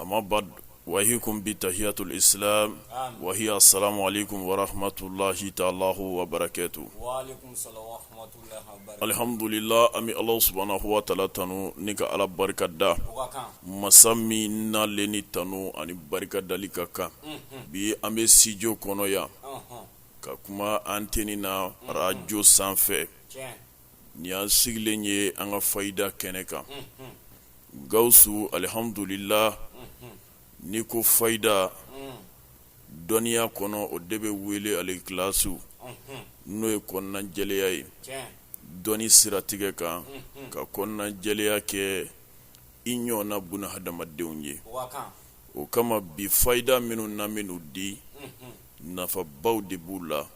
ama baadu wa uhayikum bi tahiyati lisilamu wa hiya asalamu alayikum warahamatulahi taala wabarakatuhu alihamdulila an bɛ ala subuhanahu wa taala tanu ni ka ala barika da masa min ale ni tanu ani barika dali ka kan bi an bɛ studio kɔnɔ yan ka kuma antɛni na arajo sanfɛ Nin ye an sigilen ye an ka fayida kɛnɛ kan gawusu alihamdulila ni ko fayida dɔnniya kɔnɔ o de bɛ wele alikilasi n'o ye kɔnɔna jɛlenya ye dɔnni siratigɛ kan ka kɔnɔna jɛlenya kɛ i ɲɔgɔn na bunu hadamadenw ye o kama bi fayida minnu na minnu di nafabaw de b'u la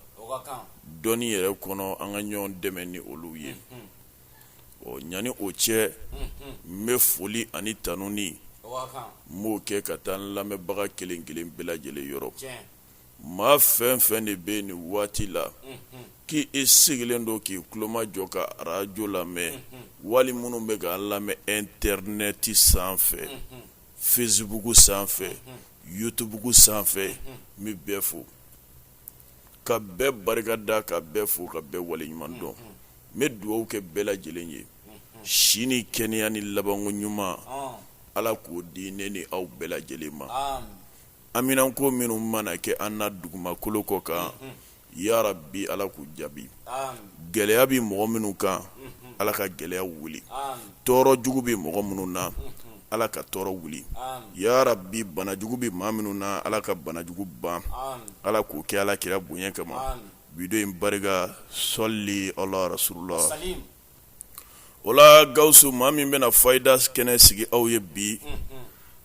dɔnni yɛrɛ kɔnɔ an ka ɲɔgɔn dɛmɛ ni olu ye ɔ ɲani o cɛ n bɛ foli ani tanuni n b'o kɛ ka taa n lamɛnbaga kelen kelen bɛɛ lajɛlen yɔrɔ maa fɛn fɛn de bɛ nin waati la k'i sigilen don k'i tulomajɔ ka arajo lamɛn wali minnu bɛ ka an lamɛn ɛntɛrinɛti sanfɛ fesibuku sanfɛ yutubuku sanfɛ n bɛ bɛɛ fo ka bɛɛ barika da ka bɛɛ fo ka bɛɛ wale ɲuman dɔn n bɛ dugawu kɛ bɛɛ lajɛlen ye si ni kɛnɛya ni labanko ɲuman ala k'o di ne ni aw bɛɛ lajɛlen ma haminanko minnu mana kɛ an na dugumakolo kɔ kan ya rabi ala k'u jaabi gɛlɛya bɛ mɔgɔ minnu kan ala ka gɛlɛya wuli tɔɔrɔ jugu bɛ mɔgɔ minnu na ala ka tɔɔrɔ wuli ya rabi banajugu bɛ maa minnu na ala ka banajugu ban ala k'o kɛ ala kira bonya kama bi don in barika sɔli ala rasululahi o la gawusu maa min bɛna fayida kɛnɛ sigi aw ye bi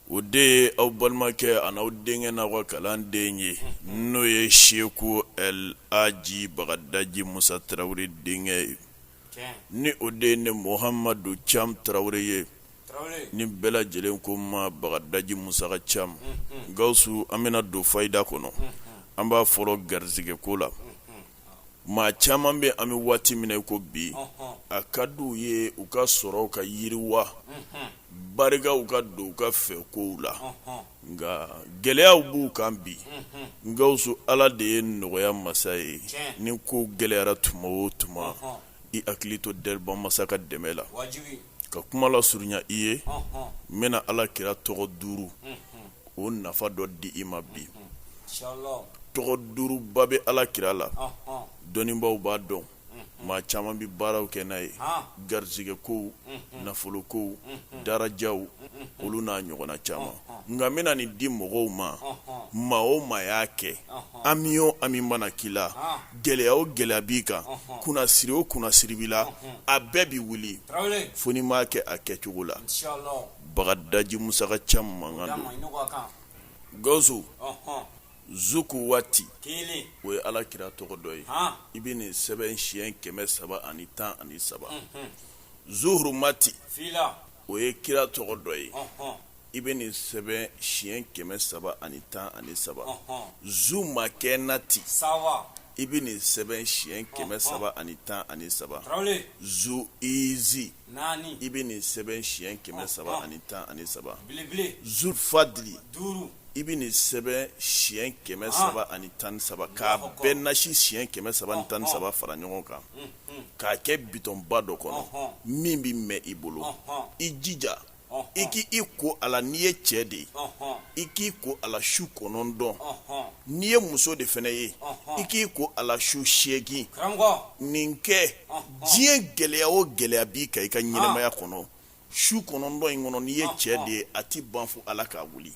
o de ye aw balimakɛ ani aw denkɛ n'aw ka kalanden ye n'o ye seku laji bagadaji musa tarawele denkɛ ye ni o de ye ne mohamadu cam tarawele ye ni bɛɛ lajɛlen ko n ma bagadaji musa ka cam gawusu an bɛna don fayida kɔnɔ an b'a fɔlɔ garisɛgɛ ko la maa caman bɛ an bɛ waati min na ko bi a ka di u ye u ka sɔrɔ ka yiriwa barikaw ka don u ka fɛn kow la nka gɛlɛyaw b'u kan bi gawusu ala de ye nɔgɔya masa ye ni ko gɛlɛyara tuma o tuma i hakili to dabaa masa ka dɛmɛ la ka kuma lasurunya i ye n bɛna ala kira tɔgɔ duuru o nafa dɔ di i ma bi tɔgɔ duuruba bɛ ala kira la dɔnnibaw b'a dɔn maa caman bɛ baaraw kɛ n'a ye garijɛgɛ kow nafolo kow darajaw olu n'a ɲɔgɔnna caman nka n bɛna nin di mɔgɔw ma maa o maa y'a kɛ hami o hami mana k'i la gɛlɛya o gɛlɛya b'i kan kunnasiri o kunnasiri b'i la a bɛɛ bɛ wuli fo n'i m'a kɛ a kɛcogo la bagadaji musa ka cam mankan na gawusu zu kuwati o ye ala kira tɔgɔ dɔ ye i bɛ nin sɛbɛn siɲɛ kɛmɛ saba ani tan ani saba zu hurumati o ye kira tɔgɔ dɔ ye i bɛ nin sɛbɛn siɲɛ kɛmɛ saba ani tan ani saba zu makɛnati i bɛ nin sɛbɛn siɲɛ kɛmɛ saba ani tan ani saba zu izi i bɛ nin sɛbɛn siɲɛ kɛmɛ saba ani tan ani saba zu fadili i bɛ nin sɛbɛn siɲɛ kɛmɛ saba ani tan ni saba k'a bɛɛ nasi siɲɛ kɛmɛ saba ni tan ni saba fara ɲɔgɔn kan k'a kɛ bitɔnba dɔ kɔnɔ min bɛ mɛn i bolo i jija i k'i ko a la n'i ye cɛ de ye i k'i ko a la su kɔnɔntɔn n'i ye muso de fana ye i k'i ko a la su seegin nin kɛ diɲɛ gɛlɛya o gɛlɛya b'i kan i ka ɲɛnamaya kɔnɔ su kɔnɔntɔn in kɔnɔ n'i ye cɛ de ye a tɛ ban fo ala k'a wuli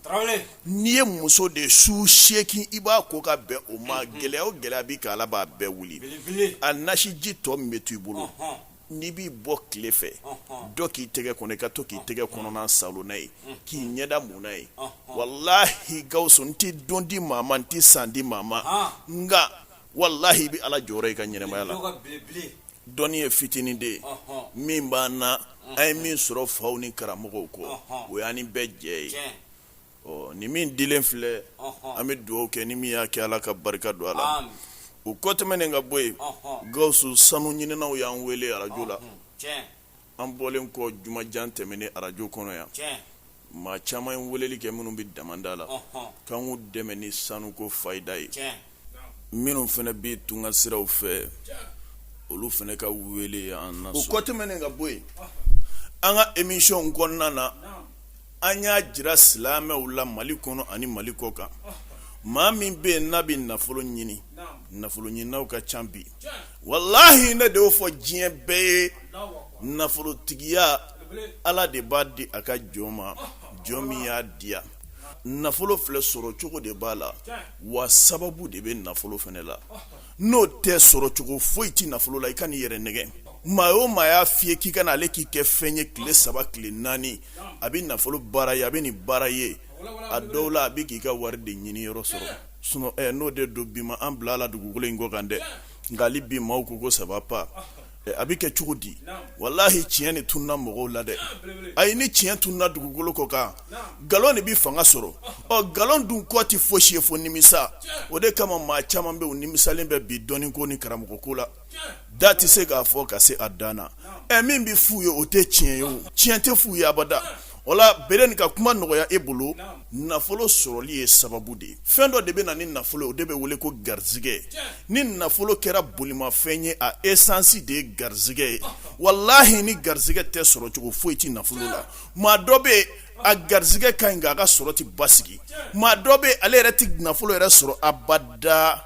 n'i ye muso de ye su seegin i b'a ko ka bɛn o ma gɛlɛya o gɛlɛya b'i kan ala b'a bɛɛ wuli a nasiji tɔ min bɛ to i bolo n'i b'i bɔ tile fɛ dɔ k'i tɛgɛ kɔnɔ i ka to k'i tɛgɛ kɔnɔna saalo n'a ye k'i ɲɛda mun n'a ye walahi gawusu n tɛ don di maa ma n tɛ san di maa ma nka walahi i bɛ ala jɔyɔrɔ i ka ɲɛnamaya la Dɔnniya fitinin de ye min b'an na an ye min sɔrɔ faw ni karamɔgɔw kɔ o y'an ni bɛɛ jɛ ye ɔ nin min dilen filɛ an bɛ dugawu kɛ ni min y'a kɛ ala ka barika don a la o kɔ tɛmɛnen ka bɔ yen gawusu sanu ɲininaw y'an wele arajo la An bɔlen kɔ jumajan tɛmɛnen arajo kɔnɔ yan. Tiɲɛ! Maa caman ye weleli kɛ minnu bɛ damanda la. Ɔnhɔn! K'an k'u dɛmɛ ni sanu ko fayida ye. Tiɲɛ! Minnu fana bɛ tunga siraw fɛ. Tiɲɛ! Olu fana ka wele y'an lasɔrɔ. O kɔ tɛmɛnen ka bɔ yen. Ɔnhɔn! An ka emission kɔnɔna na. Naamu! an y'a jira silamɛw la mali kɔnɔ ani mali kɔ kan maa min bɛ yen n'a bɛ nafolo ɲini nafolo ɲininaw ka ca bi walahi ne de y'o fɔ diɲɛ bɛɛ ye nafolotigiya ala de b'a di a ka jɔn ma jɔn min y'a diya nafolo filɛ sɔrɔ cogo de b'a la wa sababu de bɛ nafolo fana la n'o tɛ sɔrɔcogo foyi tɛ nafolo la i kana i yɛrɛ nɛgɛn maa o maa y'a fɔ i ye k'i ka na ale k'i kɛ fɛn ye tile saba tile naani a bɛ nafolo baara ye a bɛ nin baara ye a dɔw la a bɛ k'i ka wari de ɲini yɔrɔ sɔrɔ sinon n'o de don bi ma an bila ala dugukolo in kɔ kan dɛ nka hali bi maaw ko ko ça va pas a bɛ kɛ cogo di walahi tiɲɛ de tununna mɔgɔw la dɛ ayi ni tiɲɛ tununna dugukolo kɔ kan nkalon de bɛ fanga sɔrɔ ɔ nkalon dun kɔ tɛ fosi ye fo nimisa o de kama maa caman bɛ u nimisalen bɛ bi dɔnni ko ni karamɔgɔ ko la da tɛ se k'a fɔ ka se a dan na ɛ min bɛ f'u ye o tɛ tiɲɛ ye o tiɲɛ tɛ f'u ye abada wala bere ka kuma nɔgɔya e bolo nafolo sɔrɔli ye sababu de ye fɛn dɔ de bɛ na ni nafolo o de bɛ wele ko garisɛgɛ ni nafolo kɛra bolimafɛn ye a esansi de ye garisɛgɛ ye walahi ni garisɛgɛ tɛ sɔrɔcogo foyi tɛ nafolo la maa dɔ bɛ a garisɛgɛ ka ɲi nka a ka sɔrɔ tɛ basigi maa dɔ bɛ ale yɛrɛ tɛ nafolo yɛrɛ sɔrɔ abada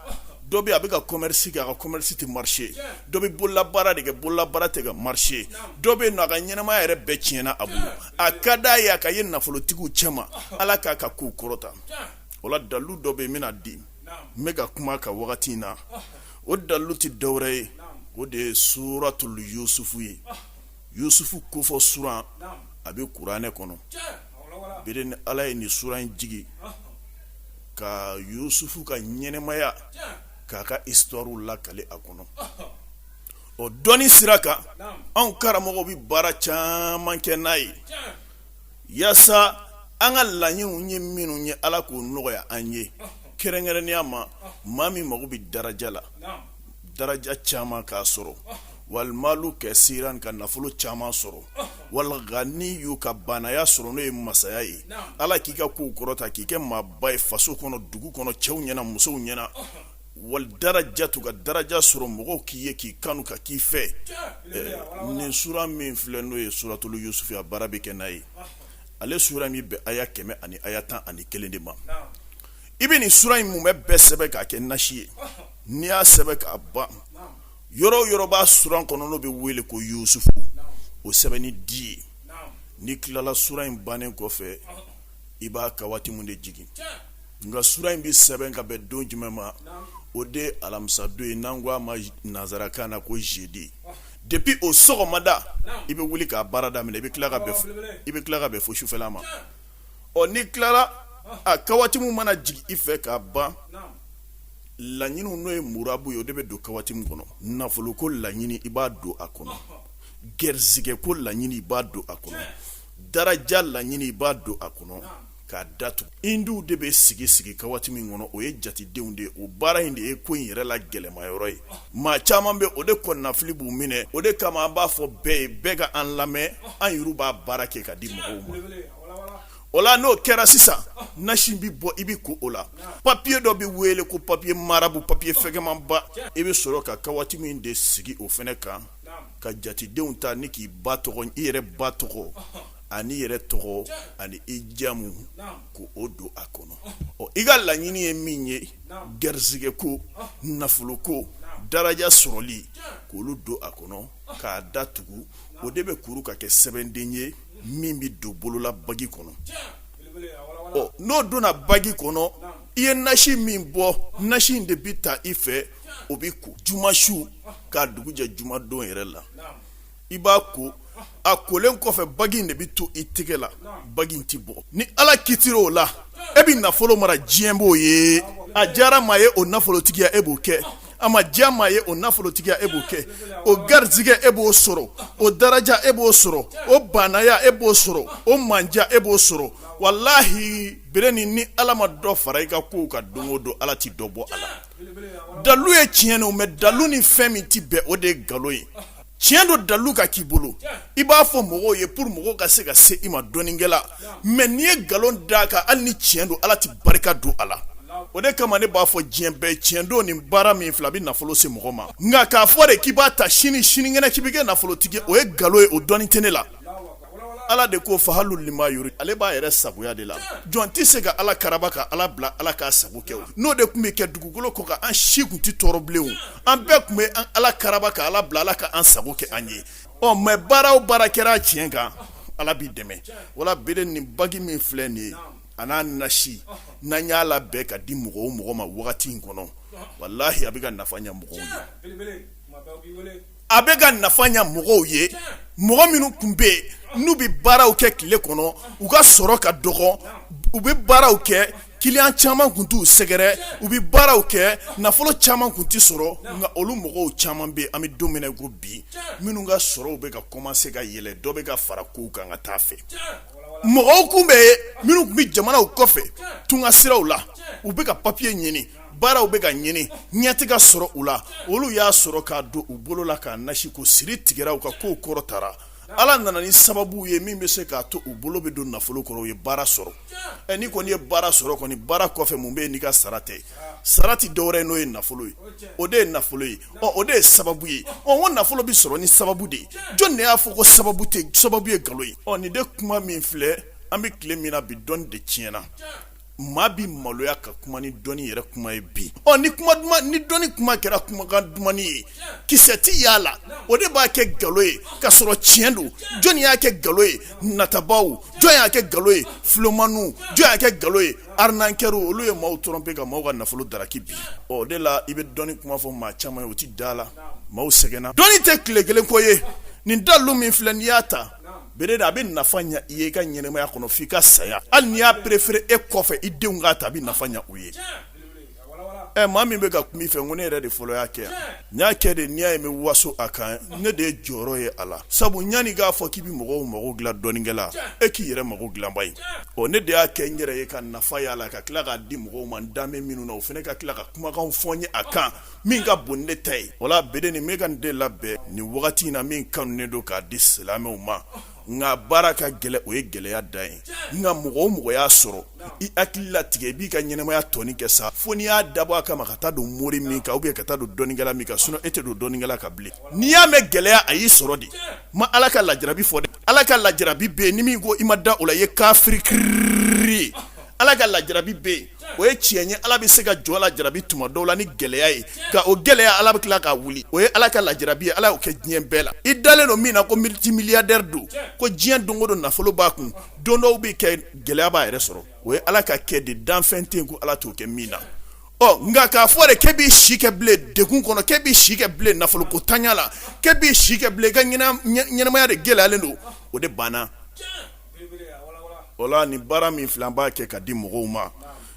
dɔ bɛ a bɛ ka commerce kɛ a ka commerce tɛ marcher dɔ bɛ bolola baara de kɛ bolola baara tɛ ka marcher dɔ bɛ yen nɔ a ka ɲɛnamaya yɛrɛ bɛɛ tiɲɛna a bolo a ka d'a ye a ka ye nafolotigiw cɛma Ala k'a ka kow kɔrɔta o la dalilu dɔ bɛ yen n bɛna di n bɛ ka kuma a kan wagati in na o dalilu tɛ dɔwɛrɛ ye o de ye suratul yusufu ye yusufu kofɔ suran a bɛ kuranɛ kɔnɔ bere ni Ala ye nin suran in jigin ka yusufu ka ɲɛnamaya k'a ka histoirew lakale a kɔnɔ o dɔnni sira kan anw karamɔgɔw bɛ baara caman kɛ n'a ye yaasa an ka laɲiniw ye minnu ye ala k'o nɔgɔya an ye kɛrɛnkɛrɛnnenya ma maa min mago bɛ daraja la daraja caman k'a sɔrɔ wal malu kasiran ka nafolo caman sɔrɔ wal ganiyu ka baanaya sɔrɔ n'o ye masaya ye ala k'i ka kow kɔrɔta k'i kɛ maaba ye faso kɔnɔ dugu kɔnɔ cɛw ɲɛna musow ɲɛna wal darajatu ka daraja sɔrɔ mɔgɔw k'i ye k'i kanu ka k'i fɛ nin suran min filɛ n'o ye suratul yusufu a baara bɛ kɛ n'a ye ale suran min bɛ aya kɛmɛ ani aya tan ani kelen de ma i bɛ nin suran in mumɛ bɛɛ sɛbɛn k'a kɛ nasi ye n'i y'a sɛbɛn k'a ban yɔrɔ o yɔrɔ b'a suran kɔnɔ n'o bɛ wele ko yusufu o sɛbɛn ni di ye n'i tilala suran in bannen kɔfɛ i b'a kawatimu de jigin nka suran in bɛ sɛbɛn ka bɛn don jumɛn ma o de alamisadon ye n'an ko a ma nansarakan na ko jeudi depuis o sɔgɔmada i bɛ wuli k'a baara daminɛ i bɛ tila ka bɛn fo sufɛla ma ɔ n'i tilara a kawatimu mana jigin i fɛ k'a ban laɲiniw n'o ye murabu ye o de bɛ don kawatimu kɔnɔ nafolo ko laɲini i b'a don a kɔnɔ gɛrɛsigɛ ko laɲini i b'a don a kɔnɔ daraja laɲini i b'a don a kɔnɔ k'a datugu indiw de bɛ sigi sigi kawatimu kɔnɔ o ye jatedenw de ye o baara in de ye ko in yɛrɛ la gɛlɛmayɔrɔ ye maa caman bɛ o de kɔnɔnafili b'u minɛ o de kama an b'a fɔ bɛɛ ye bɛɛ ka an lamɛn an yɛrɛw b'a baara kɛ ka di mɔgɔw ma o la n'o kɛra sisan nasi bɛ bɔ i bɛ ko o la papiye dɔ bɛ wele ko papiye marabu papiye fɛgɛmanba i bɛ sɔrɔ ka kawatimu de sigi o fɛnɛ kan ka jatedenw ta ni k'i ba tɔgɔ i yɛrɛ ba tɔgɔ ani i yɛrɛ tɔgɔ ani i jamu k'o don a kɔnɔ ɔ i ka laɲini ye min ye garisɛgɛ ko nafolo ko daraja sɔrɔli k'olu don a kɔnɔ k'a da tugu o de bɛ kuru ka kɛ sɛbɛnden ye min bɛ don bolola bagi kɔnɔ ɔ n'o donna bagi kɔnɔ i ye nasi min bɔ nasi in de bɛ ta i fɛ o bɛ ko juma su k'a dugu jɛ jumadon yɛrɛ la i b'a ko a kolen kɔfɛ bagi in de bɛ to i tɛgɛ la bagi in tɛ bɔ ni ala kitir'o la e bɛ nafolo mara diɲɛ b'o ye a diyara maa ye o nafolotigiya e b'o kɛ a ma diya maa ye o nafolotigiya e b'o kɛ o garijɛgɛ e b'o sɔrɔ o daraja e b'o sɔrɔ o baanaya e b'o sɔrɔ o manja e b'o sɔrɔ walahi bere ni ni ala ma dɔ fara i ka kow kan don o don ala tɛ dɔ bɔ a la dalu ye tiɲɛ don mɛ dalu ni fɛn min tɛ bɛn o de ye nkalon ye tiɲɛ don dalu ka k'i bolo i b'a fɔ mɔgɔw ye pour mɔgɔw ka se ka se i ma dɔnnikɛla mɛ n'i ye nkalon da a kan hali ni tiɲɛ don ala tɛ barika don a la o de kama ne b'a fɔ diɲɛ bɛɛ tiɲɛ don ni baara min filɛ a bɛ nafolo se mɔgɔ ma nka k'a fɔ de k'i b'a ta sini sinikɛnɛ k'i bɛ kɛ nafolotigi o ye nkalon ye o dɔnni tɛ ne la Ala de ko fahalu lima yuri ale b'a yɛrɛ sagoya de la jɔn tɛ se ka ala karaba ka ala bila ala k'a sago kɛ n'o de tun bɛ kɛ dugukolo kɔ kan an si tun tɛ tɔɔrɔ bilen an bɛɛ tun bɛ ala karaba ka ala bila ala ka an sago kɛ an ye ɔ mɛ baara o baara kɛra tiɲɛ kan ala b'i dɛmɛ wala bere ni bagi min filɛ nin ye a n'a nasi n'an y'a labɛn ka di mɔgɔ o mɔgɔ ma wagati in kɔnɔ walahi a bɛ ka nafa ɲɛ mɔgɔw a bɛ ka nafa ɲɛ mɔgɔw ye mɔgɔ minnu tun bɛ yen n'u bɛ baaraw kɛ tile kɔnɔ u ka sɔrɔ ka dɔgɔ u bɛ baaraw kɛ kiliyan caman tun t'u sɛgɛrɛ u bɛ baaraw kɛ nafolo caman tun tɛ sɔrɔ nka olu mɔgɔw caman bɛ yen an bɛ don min na i ko bi minnu ka sɔrɔw bɛ ka kɔmanse ka yɛlɛ dɔ bɛ ka fara kow kan ka taa a fɛ mɔgɔw tun bɛ yen minnu tun bɛ jamanaw kɔfɛ tunga siraw la u bɛ ka papiye ɲini baaraw bɛ ka ɲini ɲɛ ti ka sɔrɔ u la olu y'a sɔrɔ k'a don u bolo la k'a nasi ko siri tigɛra u ka kow kɔrɔtara ala nana ni sababu ye min bɛ se k'a to u bolo bɛ don nafolo kɔrɔ u ye baara sɔrɔ ɛ n'i kɔni ye baara sɔrɔ kɔni baara kɔfɛ mun bɛ yen n'i ka sara tɛ sara ti dɔwɛrɛ ye n'o ye nafolo ye o de ye nafolo ye ɔ o de ye sababu ye ɔ ko nafolo bɛ sɔrɔ ni sababu de ye jɔn de y'a fɔ ko sababu ye nkalon ye ɔ nin de kuma min filɛ an bɛ tile min na bi dɔnni de tiɲɛna maa bɛ maloya ka kuma ni dɔnni yɛrɛ kuma ye bi ɔ ni kuma ni dɔnni kuma kɛra kumakan dumani ye kisɛ ti a la o de b'a kɛ nkalon ye ka sɔrɔ tiɲɛ don jɔnni y'a kɛ nkalon ye natabaw jɔn y'a kɛ nkalon ye filomaninw jɔn y'a kɛ nkalon ye arnaqueurs olu ye maaw tromper ka maaw ka nafolo daraki bi ɔ de la i bɛ dɔnni kuma fɔ maa caman ye o tɛ da la maaw sɛgɛnna dɔnni tɛ tile kelen ko ye nin dalu min filɛ n'i y'a ta bere a bɛ nafa ɲɛ i ye i ka ɲɛnɛmaya kɔnɔ fo i ka saya hali n'i y'a préféré e kɔfɛ i denw k'a ta a bɛ nafa ɲɛ u ye ɛ maa min bɛ ka kuma i fɛ ko ne yɛrɛ de fɔlɔ y'a kɛ yan n y'a kɛ de n'i y'a ye n bɛ waso a kan ne de ye jɔyɔrɔ ye a la sabu yanni k'a fɔ k'i bɛ mɔgɔw mako dilan dɔnnikɛla e k'i yɛrɛ mako dilanba ye ɔ ne de y'a kɛ n yɛrɛ ye ka nafa y'a la ka tila k'a di mɔgɔw ma dan minnu na o fana ka tila ka kumakan fɔ n ye a kan min ka bon ne ta ye wala bere nin n bɛ ka nin de labɛn nin wagati in na min kanunen don k'a di silamɛw ma nka baara ka gɛlɛn o ye gɛlɛya dan ye nka mɔgɔ o mɔgɔ y'a sɔrɔ i hakili latigɛ i b'i ka ɲɛnɛmaya tɔni kɛ sa fo n'i y'a dabɔ a kama ka taa don mori min kan ka taa don dɔnnikɛla min kan sinon e tɛ don dɔnnikɛla kan bilen n'i y'a mɛn gɛlɛya a y'i sɔrɔ de n ma ala ka lajarabi fɔ dɛ ala ka lajarabi bɛ yen ni min ko i ma da o la i ye kafiri kiri ala ka lajarabi bɛ yen o ye tiɲɛ ye ala bɛ se ka jɔn lajarabi tuma dɔw la ni gɛlɛya ye nka o gɛlɛya ala bɛ tila k'a wuli o ye ala ka lajarabi ye ala y'o kɛ diɲɛ bɛɛ la i dalen don min na ko multimilliardaire don ko diɲɛ don o don nafolo b'a kun don dɔw bɛ kɛ gɛlɛya b'a yɛrɛ sɔrɔ o ye ala ka kɛ de danfɛn tɛ yen ko ala t'o kɛ min na ɔ nka k'a fɔ de k'e b'i si kɛ bilen degun kɔnɔ k'e b'i si kɛ bilen nafolo ko ntanya la k'e b'i si kɛ bilen i ka ɲɛnamaya de gɛlɛyalen don o de banna wala nin baara min filɛ an b'a kɛ ka di mɔgɔw ma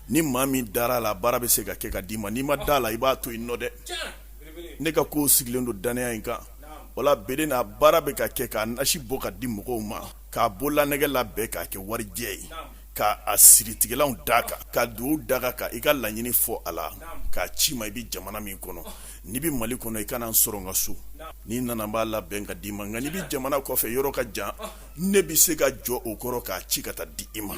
ni maa min dara a la baara bɛ se ka kɛ ka d'i ma n'i ma da la i b'a to yen nɔ dɛ ne ka ko sigilen don dannaya in kan wala bere n'a baara bɛ ka kɛ k'a nasi bɔ ka di mɔgɔw ma k'a bololanɛgɛ labɛn k'a kɛ warijɛ ye k'a siritigɛlanw d'a kan ka dugawu d'a kan ka i ka laɲini fɔ a la k'a ci i ma i bɛ jamana min kɔnɔ n'i bɛ mali kɔnɔ i ka na n sɔrɔ n ka so n'i nana n b'a labɛn ka d'i ma nka n'i bɛ jamana kɔfɛ yɔrɔ ka jan ne bɛ se ka jɔ o kɔrɔ k'a ci ka taa di i ma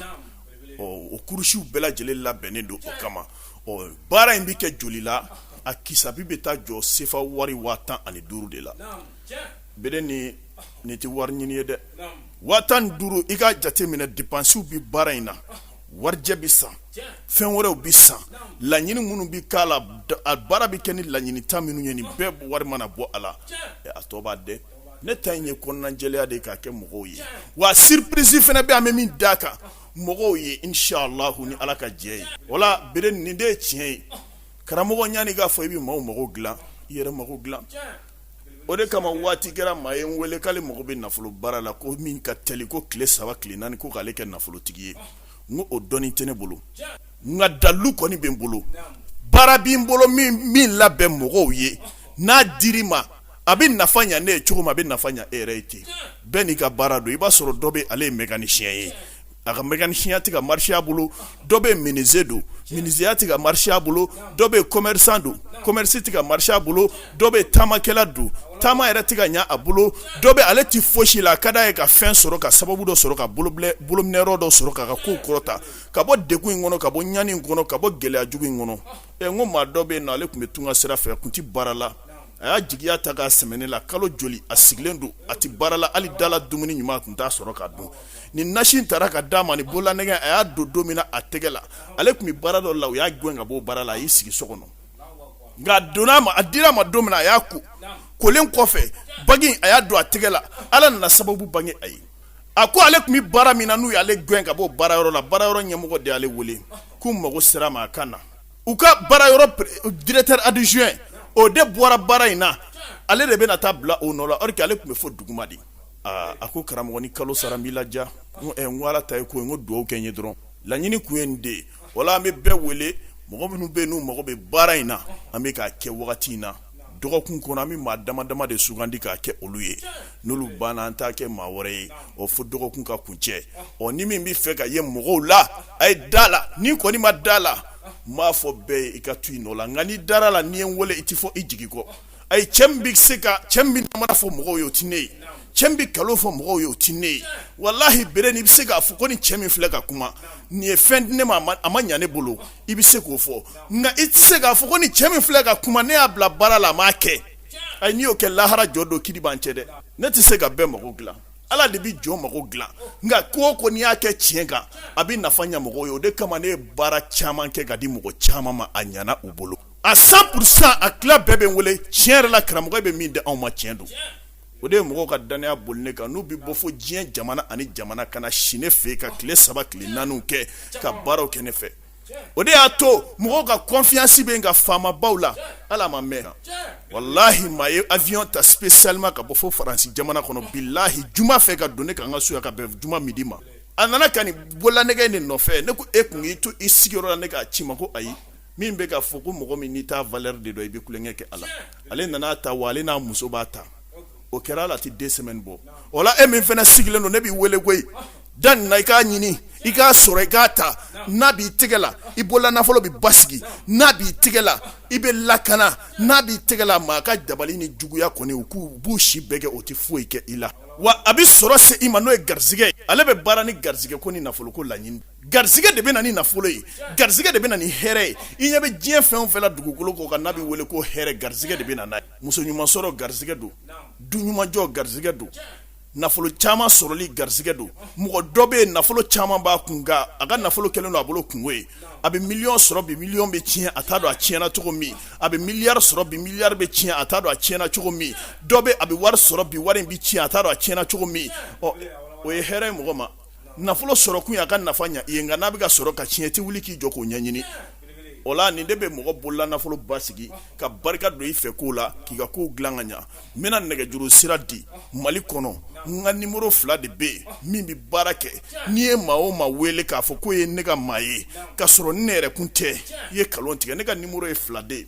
ɔ o kurusiw bɛɛ lajɛlen labɛnnen don o kama ɔ baara in bɛ kɛ joli la a kisabi bɛ taa jɔ sefa wari waa tan ani duuru de la bere ni nin tɛ wari ɲini ye dɛ waa tan ni duuru i ka jate minɛ depansiw bɛ baara in na warijɛ bɛ san fɛn wɛrɛw bɛ san laɲini minnu bɛ k'a la baara bɛ kɛ ni laɲinita minnu ye nin bɛɛ wari mana bɔ a la a tɔ b'a dɛ ne ta in ye kɔnɔnajɛya de ye k'a kɛ mɔgɔw ye wa surprise fana bɛ an bɛ min d'a kan mɔgɔw ye inshallah ni ala ka jɛ ye wala bere nin de ye tiɲɛ ye karamɔgɔ ɲani k'a fɔ i bɛ maaw mako dilan i yɛrɛ mako dilan o de kama waati kɛra maa ye n wele k'ale mago bɛ nafolo baara la ko min ka teli ko tile saba tile naani ko k'ale kɛ nafolotigi ye n ko o dɔnni tɛ ne bolo nka dalu kɔni bɛ n bolo baara bɛ n bolo min labɛn mɔgɔw ye n'a di i ma a bɛ nafa ɲɛ ne ye cogo min a bɛ nafa ɲɛ e yɛrɛ ye ten bɛɛ n'i ka baara don i b'a sɔrɔ dɔ bɛ ale ye mécanicien ye a ka mécanicien tɛ ka marché a bolo dɔ bɛ menuisier don menuisier tɛ ka marché a bolo dɔ bɛ commerçant don commerce tɛ ka marché a bolo dɔ bɛ taamakɛla don taama yɛrɛ tɛ ka ɲɛ a bolo dɔ bɛ ale tɛ fosi la a ka d'a ye ka fɛn sɔrɔ ka sababu dɔ sɔrɔ ka bolobilɛ bolominɛyɔrɔ dɔ sɔrɔ k'a ka kow kɔrɔta ka bɔ degun in kɔnɔ ka bɔ ɲani in kɔnɔ ka bɔ gɛlɛya jugu in kɔnɔ ɛ n ko maa dɔ bɛ yen nɔ ale tun bɛ tunga sira fɛ a tun tɛ baara la a y'a jigiya ta k'a sɛmɛ ne la kalo joli a sigilen don a tɛ baara la hali dala dumuni ɲuman a tun t'a sɔrɔ ka dun ni nasi in taara ka d'a ma ni bololanɛgɛ a y'a don don min na a tɛgɛ la ale tun bɛ baara dɔ la u y'a gɛn ka bɔ baara la a y'i sigi so kɔnɔ nka a donna a ma a dira a ma don min na a y'a ko kolen kɔfɛ bagi in a y'a don a tɛgɛ la ala nana sababu bange a ye a ko ale tun bɛ baara min na n'u y'ale gɛn ka bɔ baara yɔrɔ la baara yɔrɔ ɲɛmɔgɔ de y'ale wele k'u mago sera a ma a ka na u ka baara yɔrɔ directeur adjoint o de bɔra baara in na ale de bɛna taa bila o nɔ la or que ale tun bɛ fo duguma de aaa a ko karamɔgɔ ni kalo sara n b'i ladiya n ko ala ta ye ko n ko dugawu kɛ n ye dɔrɔn laɲini kun ye nin de ye wala an bɛ bɛɛ wele mɔgɔ minnu bɛ n'u mago bɛ baara in na an bɛ k'a kɛ wagati in na dɔgɔkun kɔnɔ an bɛ maa dama dama de sugandi k'a kɛ olu ye n'olu banna an t'a kɛ maa wɛrɛ ye ɔ fo dɔgɔkun ka kuncɛ ɔ ni min b'a fɛ ka ye mɔgɔw la a ye da la n'i kɔni ma da la n b'a fɔ bɛɛ ye i ka to i nɔ la nka n'i dara la n'i ye n wele i tɛ fɔ i jigi kɔ ayi cɛ min bɛ se ka cɛ min bɛ namara fɔ mɔgɔw ye o tɛ ne ye cɛ min bɛ nkalon fɔ mɔgɔw ye o tɛ ne ye walahi bere n'i bɛ se k'a fɔ ko ni cɛ min filɛ ka kuma nin ye fɛn di ne ma a ma ɲa ne bolo i bɛ se k'o fɔ nka i tɛ se k'a fɔ ko ni cɛ min filɛ ka kuma ne y'a bila baara la a m'a kɛ ayi n'i y'o kɛ lahara jɔ don kiri b'an cɛ dɛ ne tɛ se ka bɛɛ mako dilan ala de bɛ jɔn mako dilan nka ko o ko n'i y'a kɛ tiɲɛ kan a bɛ nafa ɲa mɔgɔw ye o de kama ne ye baara caman kɛ ka di mɔgɔ caman ma a ɲana u bolo a cent pour cent a tila bɛɛ bɛ n wele tiɲɛ yɛrɛ la karamɔgɔ i bɛ min di anw ma tiɲɛ don o de ye mɔgɔw ka danaya boli ne kan n'u bɛ bɔ fo diɲɛ jamana ani jamana ka na si ne fɛ ka tile saba tile naani kɛ ka baaraw kɛ ne fɛ o de y'a to mɔgɔw ka confiance bɛ n ka faamabaw la ala ma mɛn wallahi maa ye avion ta spécialement ka bɔ fo faransi jamana kɔnɔ billahi juma fɛ ka don ne kan n ka so yan ka bɛn juma midi ma a nana ka nin bololanɛgɛ nin nɔfɛ ne ko e tun y'i to i sigiyɔrɔ la ne k'a ci ma ko ayi min bɛ k'a fɔ ko mɔgɔ min n'i t'a valeur de dɔn i bɛ tulonkɛ kɛ a la ale nana ta wa ale n'a muso b'a ta o kɛra ala tɛ deux semaines bɔ o la e min fana sigilen don ne b'i weele ko i da nin na i k'a ɲini i k'a sɔrɔ i k'a ta n'a b'i tɛgɛ la i bolola nafolo bɛ basigi n'a b'i tɛgɛ la i bɛ lakana n'a b'i tɛgɛ la maa ka dabali ni juguya kɔni u k'u b'u se bɛɛ kɛ o tɛ foyi kɛ i la wa a bɛ sɔrɔ se i ma n'o ye garisɛgɛ ale bɛ baara ni garisɛgɛ ko ni nafolo ko laɲini garisɛgɛ de bɛ na ni nafolo ye garisɛgɛ de bɛ na ni hɛrɛ ye i ɲɛ bɛ diɲɛ fɛn o fɛn la dugukolo kɔ kan n'a bɛ wele ko hɛrɛ garisɛgɛ de bɛ na n'a ye muso ɲuman sɔrɔ garisɛgɛ don du ɲuman jɔ garisɛgɛ don nafolo caman sɔrɔli garisɛgɛ don mɔgɔ dɔ bɛ yen nafolo caman b'a kun a ka nafolo kɛlen don a bolo kunko ye a bɛ miliyɔn sɔrɔ bi miliyɔn bɛ tiɲɛ a t'a dɔn a tiɲɛna cogo min a bɛ miliyari sɔrɔ bi miliyari bɛ tiɲɛ a t'a dɔn a tiɲɛna cogo min dɔ bɛ a bɛ wari sɔrɔ bi wari in bɛ tiɲɛ a t'a dɔn a tiɲɛna cogo min ɔ o ye hɛrɛ ye mɔgɔ ma nafolo sɔrɔkun ye a ka nafa ɲɛ i ye nka n'a bɛ ka sɔrɔ ka tiɲɛ i tɛ wuli k'i jɔ k'o ɲɛɲini o la nin de bɛ mɔgɔ bolola nafolo basigi ka barika don i fɛ ko la k'i ka kow dilan ka ɲɛ n bɛna nɛgɛjuru sira di mali kɔnɔ n ka numéro fila de bɛ yen min bɛ baara kɛ n'i ye maa o maa wele k'a fɔ k'o ye ne ka maa ye ka sɔrɔ ne yɛrɛ kun tɛ i ye nkalon tigɛ ne ka numéro ye fila de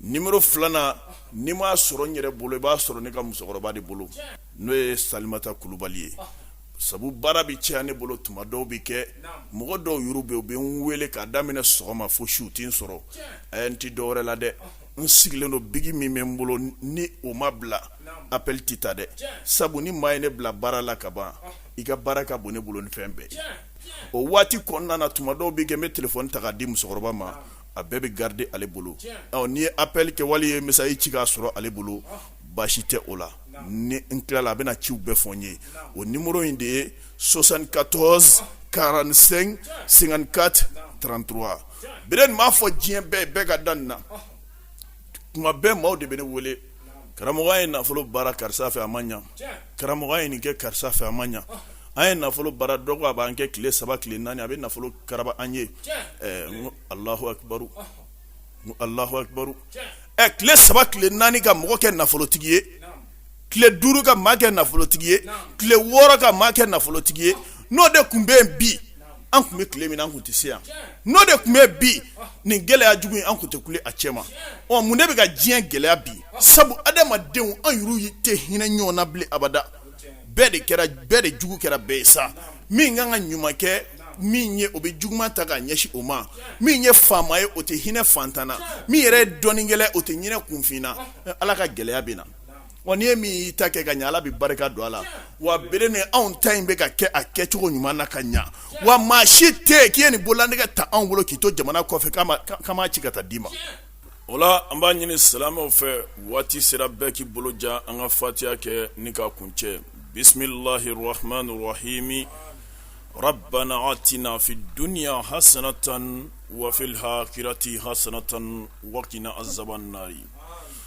numéro filanan n'i m'a sɔrɔ n yɛrɛ bolo i b'a sɔrɔ ne ka musokɔrɔba de bolo n'o ye salimata kulubali ye sabu baara bɛ caya ne bolo tuma dɔw bɛ kɛ mɔgɔ dɔw yɛrɛ bɛ u bɛ n weele k'a daminɛ sɔgɔma fo su u tɛ n sɔrɔ a n tɛ dɔwɛrɛ la dɛ n sigilen don biki min bɛ n bolo ni o ma bila appel tɛ ta dɛ sabu ni maa ye ne bila baara la ka ban i ka baara ka bon ne bolo ni fɛn bɛɛ o waati kɔnɔna tuma dɔw bɛ kɛ n bɛ telefɔni ta k'a di musokɔrɔba ma a bɛɛ bɛ garder ale bolo n'i ye appel kɛ wali i ye message ci k'a sɔrɔ ale bolo baasi tɛ o la ni n tilala a bɛna ciw bɛɛ fɔ n ye o numéro in de ye soixante-quatorze quarante-cinq cinquante-quatre trente-trois bere ni n m'a fɔ diɲɛ bɛɛ bɛ ka da nin na tuma bɛɛ maaw de bɛ ne wele karamɔgɔ an ye nafolo baara karisa fɛ a ma ɲɛ karamɔgɔ an ye nin kɛ karisa fɛ a ma ɲɛ an ye nafolo baara dɔ ko a b'an kɛ tile saba tile naani a bɛ nafolo karaba an ye n ko allahu akibaru allahu akibaru tile saba tile naani ka mɔgɔ kɛ nafolotigi ye tile duuru ka maa kɛ nafolotigi ye tile wɔɔrɔ ka maa kɛ nafolotigi ye n'o de tun bɛ yen bi an kun bɛ tile min an kun tɛ se yan n'o de kun bɛ bi nin gɛlɛya jugu in an kun tɛ kule a cɛ ma ɔ mun de bɛ ka diɲɛ gɛlɛya bi sabu adamadenw an yɛrɛw tɛ hinɛ ɲɔgɔn na bilen abada bɛɛ bɛɛ de jugu kɛra bɛɛ ye sa min kan ka ɲuman kɛ min ye o bɛ juguman ta ka ɲɛsin o ma min ye faama ye o tɛ hinɛ faantan na min yɛrɛ ye dɔnnikɛla o tɛ hinɛ kunfin na ala ka gɛlɛya bɛ na Wa n'i ye min y'i ta kɛ ka ɲɛ Ala bɛ barika don a la, wa bere ni anw ta in bɛ ka kɛ a kɛcogo ɲuman na ka ɲɛ, wa maa si tɛ yen k'i ye nin bololanɛgɛ ta anw bolo k'i to jamana kɔfɛ k'an m'a ci ka taa d'i ma, o la an b'a ɲini silamɛw fɛ waati sera bɛɛ k'i bolo jan an ka fatiha kɛ ni k'a kuncɛ bisimilahi arahamani arahimi rabana atina fi duniya hasanatan wa fil hakirati hasanatan wa kina azabanaari